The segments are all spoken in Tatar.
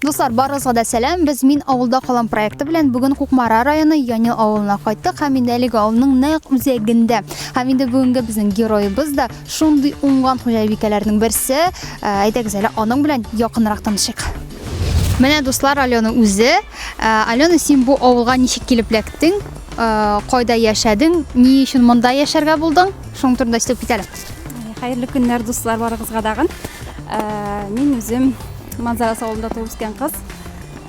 Дуслар, барыгызга да сәлам. Без Мин авылда калам проекты белән бүген Кукмара районы Яни авылына кайттык һәм инде әлеге авылның нәкъ үзәгендә. Һәм инде бүгенге безнең героебыз да шундый уңган хуҗабикәләрнең берсе. Ә, Әйдәгез әле аның белән якынрак танышыйк. Менә дуслар Алена үзе. Ә, Алена, син бу авылга ничек килеп эләктең? Ә, Кайда яшәдең? Ни өчен монда яшәргә булдың? Шуның турында сөйләп кит әле. Хәерле көннәр, дуслар, барыгызга дагын. Ә, мин үзем Манзарас авылында туып үскән кыз.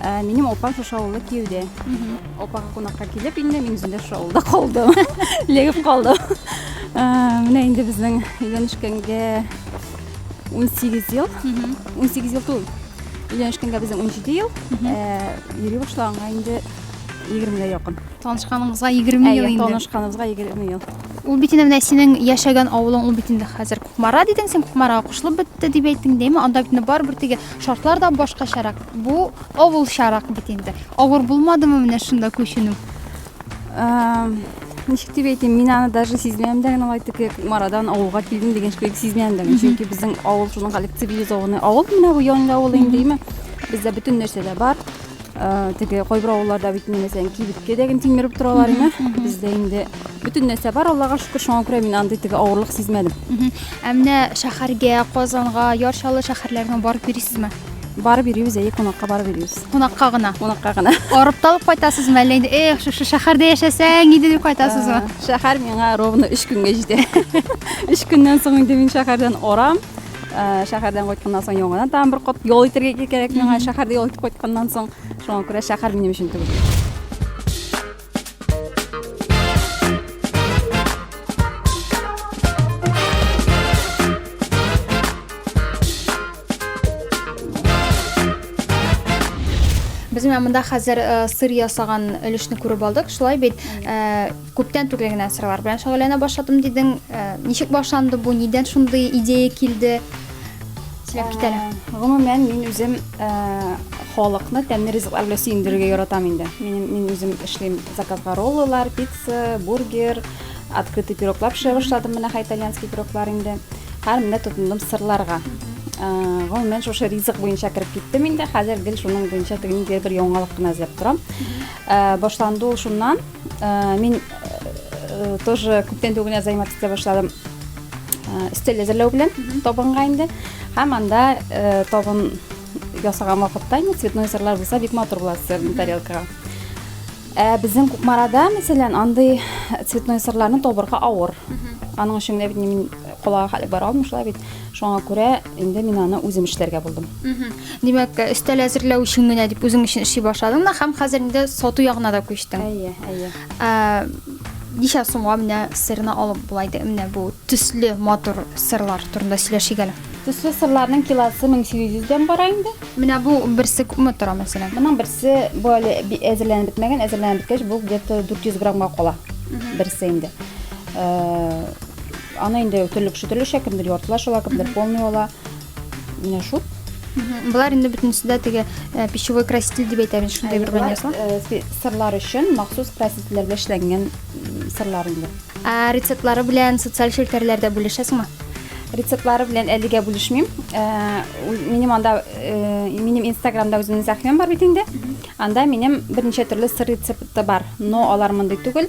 Ә, минем опам шушы авылда кияүдә. Опага кунакка килеп инде, мин үзем дә шушы авылда калдым. Легеп калдым. Ә, менә инде безнең өйләнешкәнгә 18 ел. 18 ел түгел. Өйләнешкәнгә безнең 17 ел. Ә, йөри башлаганга инде 20 гә якын. Танышканыңызга 20 ел Әйе, инде. танышканыбызга 20 ел. Ул бит инде менә синең яшәгән авылың, ул бит инде хәзер Кукмара дидең син, Кукмарага кушылып бетте дип әйттең, дәйме? Анда бит инде барыбер теге шартлар да башкачарак. Бу авылчарак бит инде. Авыр булмадымы менә шунда күченү? Ничек дип әйтим, мин аны даже сизмәм дә генә алай теге Кукмарадан авылга килдем дигән шикелле сизмәм дә. Чөнки безнең авыл шуның коллективизованный авыл менә бу Янлы авылы инде, дәйме? Бездә бөтен нәрсә дә бар. теге кайбер авылларда бит инде мәсәлән кибеткә дә генә тилмереп торалар иде бездә инде бөтен нәрсә бар аллага шөкер шуңа күрә мин андый теге авырлык сизмәдем ә менә шәһәргә казанга яр чаллы шәһәрләренә барып йөрисезме барып йөрибез әйе кунакка барып йөрибез кунакка гына кунакка гына арып талып кайтасызмы әллә инде эх шушы шәһәрдә яшәсәң иде дип кайтасызмы шәһәр миңа ровно өч көнгә җитә өч көннән соң инде мин шәһәрдән арам шәһәрдән кайтканнан соң яңадан тагын бер кат ял итәргә кирәк миңа шәһәрдә ял итеп кайтканнан соң шуңа күрә шәһәр минем өчен түгел без менә монда хәзер сыр ясаган өлешне күреп алдык шулай бит Күптән түгел генә сырлар белән шөгыльләнә башладым дидең. Э, ничек башланды бу? Нидән шундый идея килде? Сөйләп кит әле. Э, гомумән, мин үзем э, халыкны тәмле ризыклар белән сөендерергә яратам инде. Мин мин үзем эшлим заказга роллылар, пицца, бургер, открытый пироглар пешерә башладым менә хәй итальянский пироглар инде һәр менә тотындым сырларга э, гомумән шушы ризык буенча кереп киттем инде хәзер гел шуның буенча теге ниндидер бер яңалык кына эзләп торам э, башланды ул шуннан Э, мин э, тоже күптән түгел яза итә башладым э, өстәл әзерләү белән табынга инде һәм анда табын ясаган вакытта инде цветной сырлар булса бик матур була сырны тарелкага ә безнең кукмарада мәсәлән андый цветной сырларны табырга авыр аның өчен генә бит мин калага хәле бара алмыйм шулай бит шуңа күрә Инде мин аны үзем эшләргә булдым. Димәк, өстәл әзерләү өчен генә дип үзең өчен эшли башладың да һәм хәзер инде сату ягына да күчтең. Әйе, әйе. Ә, Ничә сумга менә сырны алып була иде? Менә бу төсле матур сырлар турында сөйләшик әле. Төсле сырларның килосы 1800 дән бара инде. Менә бу берсе күпме тора мәсәлән? Моның берсе бу әле би- әзерләнеп бетмәгән, әзерләнеп беткәч бу где-то 400 граммга кала. Берсе инде. Э, Аны инде төрле кеше төрлечә, кемдер яртылаш ала, кемдер полный ала. Менә шул. Болар инде бөтенесе дә теге э, пищевой краситель дип әйтәбез, шундый бер Болар, ванязлар. э, спе- сырлар өчен махсус красителләргә эшләнгән м, сырлар инде. Ә рецептлары белән социаль челтәрләрдә бүлешәсеңме? Рецептлары белән әлегә бүлешмим. Э, үз- Минем анда э, минем Инстаграмда үземнең сәхифәм бар бит инде. Анда минем берничә төрле сыр рецепты бар. Но алар мондый түгел.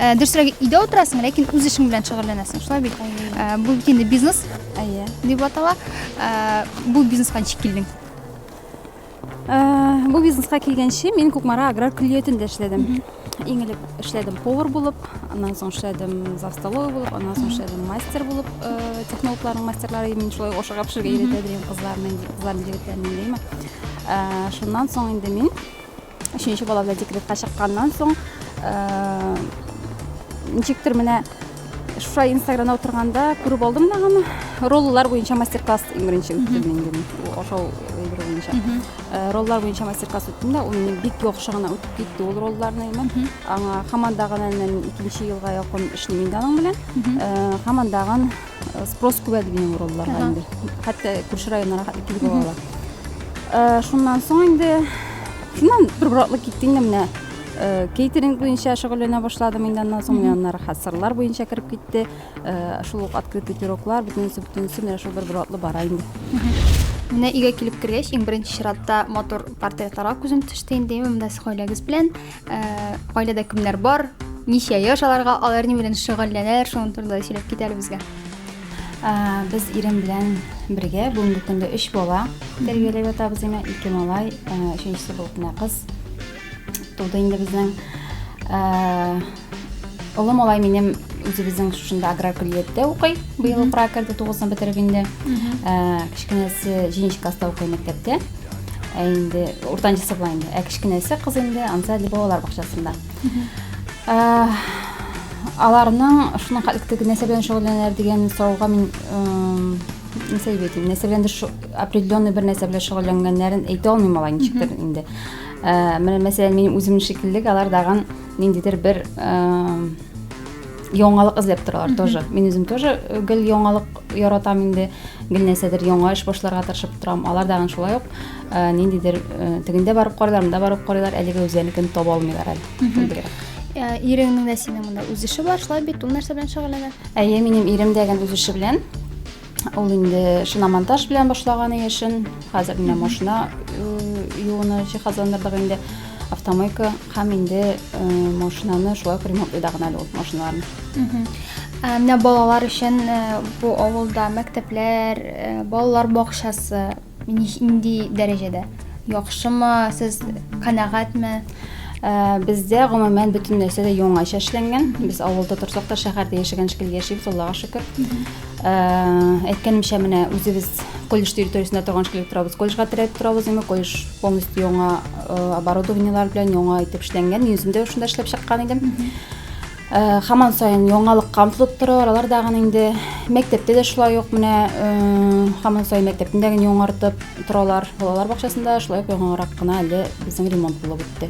Э, дөресрәге өйдә утырасың ләкин үз эшең белән шөгыльләнәсең шулай бит э, бу бит инде бизнес әйе дип атала э, бу бизнеска ничек килдең бу бизнеска килгәнче мин кукмара аграр көллиятендә эшләдем иң элек эшләдем повар булып аннан соң эшләдем за столовый булып аннан соң эшләдем мастер булып технологларның мастерлары мин шулай ашыга пешерергә өйрәтә дигән кызларны кызларны егетләрне димә шуннан соң инде мин Өченче бала белән декретка чыкканнан соң, ничектер менә шуша инстаграмда утырганда күреп алдым да аны роллар буенча мастер класс иң беренче үттем инде ашау өлгерү буенча э, роллар буенча мастер класс үттем да ул мине бик яхшы гына үтеп китте ул ролларны имән аңа һаман дагы икенче елга якын эшлим инде аның белән э, һаман дагы спрос күп әле минем уралларга инде хәтта күрше районнарга хәтле килеп алалар э, шуннан соң инде шуннан бер боратлы китте инде менә э, кейтеринг буенча шөгыльләнә башладым инде аннан соң менә аннары хәсырлар буенча кереп китте э, шул ук открытый пироглар бөтенесе бөтенесе менә шул бер боратлы бара инде менә өйгә килеп кергәч иң беренче чиратта матур портретларга күзем төште инде менә сез гаиләгез белән Ә, гаиләдә кемнәр бар? Ничә яшь аларга? Алар ни белән шөгыльләнәләр? Шуның турында сөйләп кит әле безгә. Ә, без ирем белән бергә бүгенге көндә өч бала тәрбияләп ятабыз инде. Ике малай, ә, өченчесе бу кенә кыз туды инде безнең. Ә, олы малай минем үзебезнең шушында аграр көллияттә укый. Быел укырга керде, тугызны бетереп инде. Ә, кечкенәсе җиденче класста укый мәктәптә. Ә инде уртанчысы була инде. Ә кечкенәсе кыз инде Ансади балалар бакчасында. Ә, аларның шуның хәтле нәрсә белән шөгыльләнәләр дигән сорауга мин нәрсә дип әйтим, нәрсә белән определенный бер нәрсә белән шөгыльләнгәннәрен әйтә алмыйм алай ничектер инде. Ә, менә мәсәлән, минем үзем шикелле алар даган ниндидер бер яңалык эзләп торалар тоже мин үзем тоже э, гел яңалык яратам инде гел нәрсәдер яңа эш башларга тырышып торам алар дагы шулай ук э, ниндидер э, тегендә барып карыйлар монда барып карыйлар әлегә үзләренекен таба алмыйлар әле иреңнең дә синең монда үз эше бар шулай бит ул нәрсә белән шөгыльләнә әйе минем ирем дә үз эше белән Ул инде шиномонтаж белән башлаган яшен. Хәзер менә машина юуны җиһазландырдык инде. Автомойка һәм инде машинаны шулай ук ремонтлыйда гына әле ул машиналарны. Менә балалар өчен бу авылда мәктәпләр, балалар бакчасы Нинди дәрәҗәдә? Яхшымы, сез канәгатьме? Ә, бездә гомумән бөтен нәрсә дә яңача эшләнгән. Без авылда торсак та шәһәрдә яшәгән шикелле яшибез, Аллага шөкер. Ә, әйткәнемчә, менә үзебез колледж территориясендә торган шикелле торабыз. Колледжга терәп торабыз, әмма колледж полностью яңа э, оборудованиелар белән яңа итеп эшләнгән. Мин үзем дә шунда эшләп чыккан идем. Э, хаман сайын яңалыкка омтылып торалар алар дагын инде мәктәптә дә шулай ук менә хаман э, сайын мәктәптен дә генә яңартып торалар балалар бакчасында шулай ук яңарак кына әле безнең ремонт булып үтте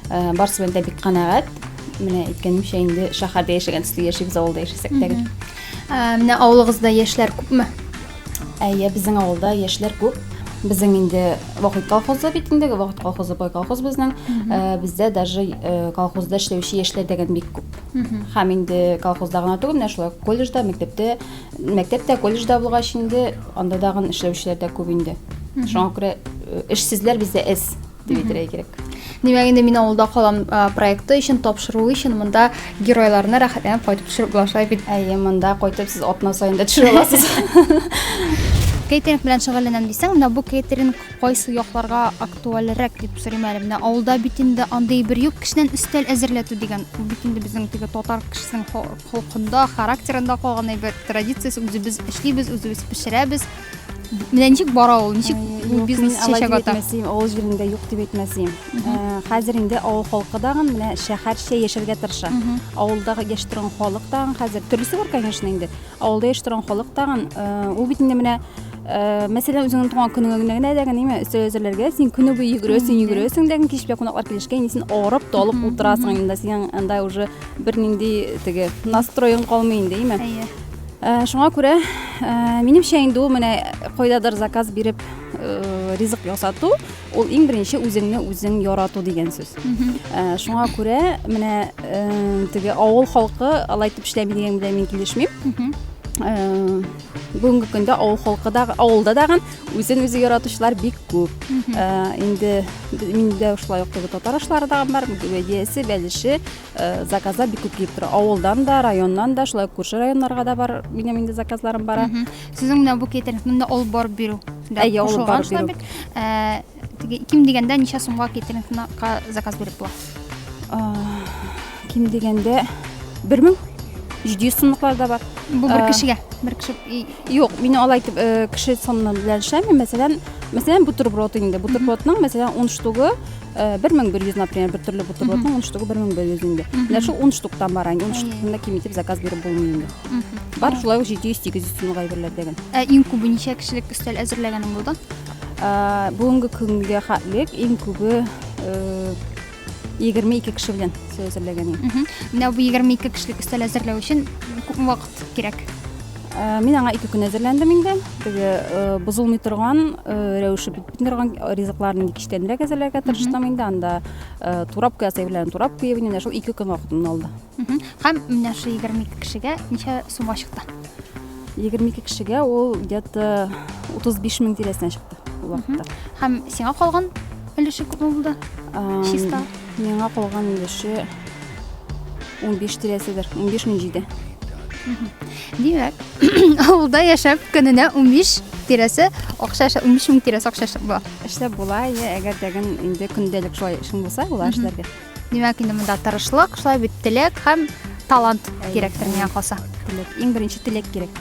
э, барысы белән дә бик канәгать менә әйткәнемчә инде шәһәрдә яшәгән төсле яшибез авылда яшәсәк тә менә авылыгызда яшьләр күпме Әйе, безнең авылда яшьләр күп. Безнең инде вахит колхозы бит инде, вахит колхозы бай колхоз безнең. Э, Бездә даже э, колхозда эшләүче яшьләр дигән бик күп. Һәм инде колхозда гына түгел, менә шулай колледжда, мәктәптә, мәктәптә, колледжда булгач инде анда дагын эшләүчеләр дә күп инде. Шуңа күрә э, эшсезләр бездә эз. дип әйтергә кирәк. Димәк, инде мин авылда калам проекты өчен тапшыру өчен монда геройларны рәхәтләнеп кайтып төшереп булашлай бит. Әйе, монда кайтып сез атна саен дә төшерә аласыз. Кейтеринг белән шөгыльләнәм дисәң, менә бу кейтеринг кайсы якларга актуальрәк дип сорыйм әле. Менә авылда бит инде андый бер юк кешенән өстәл әзерләтү дигән. Ул бит инде безнең теге татар кешесенең холкында, характерында калган әйбер, традициясе үзебез эшлибез, үзебез пешерәбез. Менә ничек бара ул? Ничек бу бизнес чәчәк ата? Әйтмәсем, авыл җирендә юк дип әйтмәсем. Хәзер инде авыл халкы дагын менә шәһәрчә яшәргә тырыша. Авылда яши торган халык тагын хәзер төрлесе бар, конечно, инде. Авылда яши торган халык тагын ул бит инде менә Э, мәсәлән үзеңнең туган көнеңә генә генә дә генә өстәл әзерләргә син көне буе йөгерәсең йөгерәсең дә кич белән кунаклар килешкән инде син авырып талып утырасың инде синең анда уже бернинди теге настроең калмый инде әйме Ә, шуңа күрә, ә, минемчә инде ул менә кайдадыр заказ биреп, ә, ризык ясату, ул иң беренче үзеңне үзең ярату дигән сүз. Ә, шуңа күрә менә ә, теге авыл халкы алай итеп эшләми дигән белән мин килешмим. Ә, бүгенге көндә авыл халкы да, авылда дагын үзен үзе яратучылар бик күп. Ә, инде миндә шулай ук теге татар ашлары да бар, бәдиясе, бәлеше, заказлар бик күп килеп тора авылдан да районнан да шулай күрше районнарга да бар минем инде заказларым бара сезнең менә бу китер монда алып барып бирү әйе алып барып бирү ә, ким дигәндә ничә сумга кетеринкка заказ биреп була ким дигәндә бер мең җиде йөз сумлыклар да бар бу бер кешегә бер кеше юк мин алай итеп кеше саны белән эшләмим мәсәлән мәсәлән бутерброд инде бутербродның мәсәлән ун штугы Э, бир миң бир жүз например бир түрле бутербродның он штугы бир миң бир жүз инде менә шул он штуктан бара инде он штуктан да ким итеп заказ биреп булмый инде бар шулай ук җиде йөз сигез йөз сумга әйберләр дигән ә иң күбе ничә кешелек өстәл әзерләгәнең булды э, бүгенге көнгә хәтлек иң күбе э, егерме ике кеше белән өстәл әзерләгән идем менә бу егерме ике кешелек өстәл әзерләү өчен күп вакыт кирәк мин аңа ике көн әзерләндем инде теге бозылмый торган рәвеше Бөтен торган ризыкларны ник эчтәнрәк әзерләргә тырыштым инде, анда э, турап куя сәйвләрен турап куеп инде менә шул ике көн вакытын алды. Һәм менә шул 22 кешегә ничә сумма чыкты? 22 кешегә ул где-то 35 мең тирәсенә чыкты ул вакытта. Һәм сиңа калган өлеше күпме булды? Ам, Чиста. Миңа калган өлеше 15 тирәседер, 15 мең җиде. Димәк, авылда яшәп көненә 15 тирәсе акча эшләп, 15 мең тирәсе акча эшләп була. Эшләп була, иә, әгәр дәген инде көндәлек шулай эшең булса, була эшләргә. Димәк, инде монда тырышлык, шулай бит теләк һәм талант кирәктер миңа калса. Теләк, иң беренче теләк кирәк.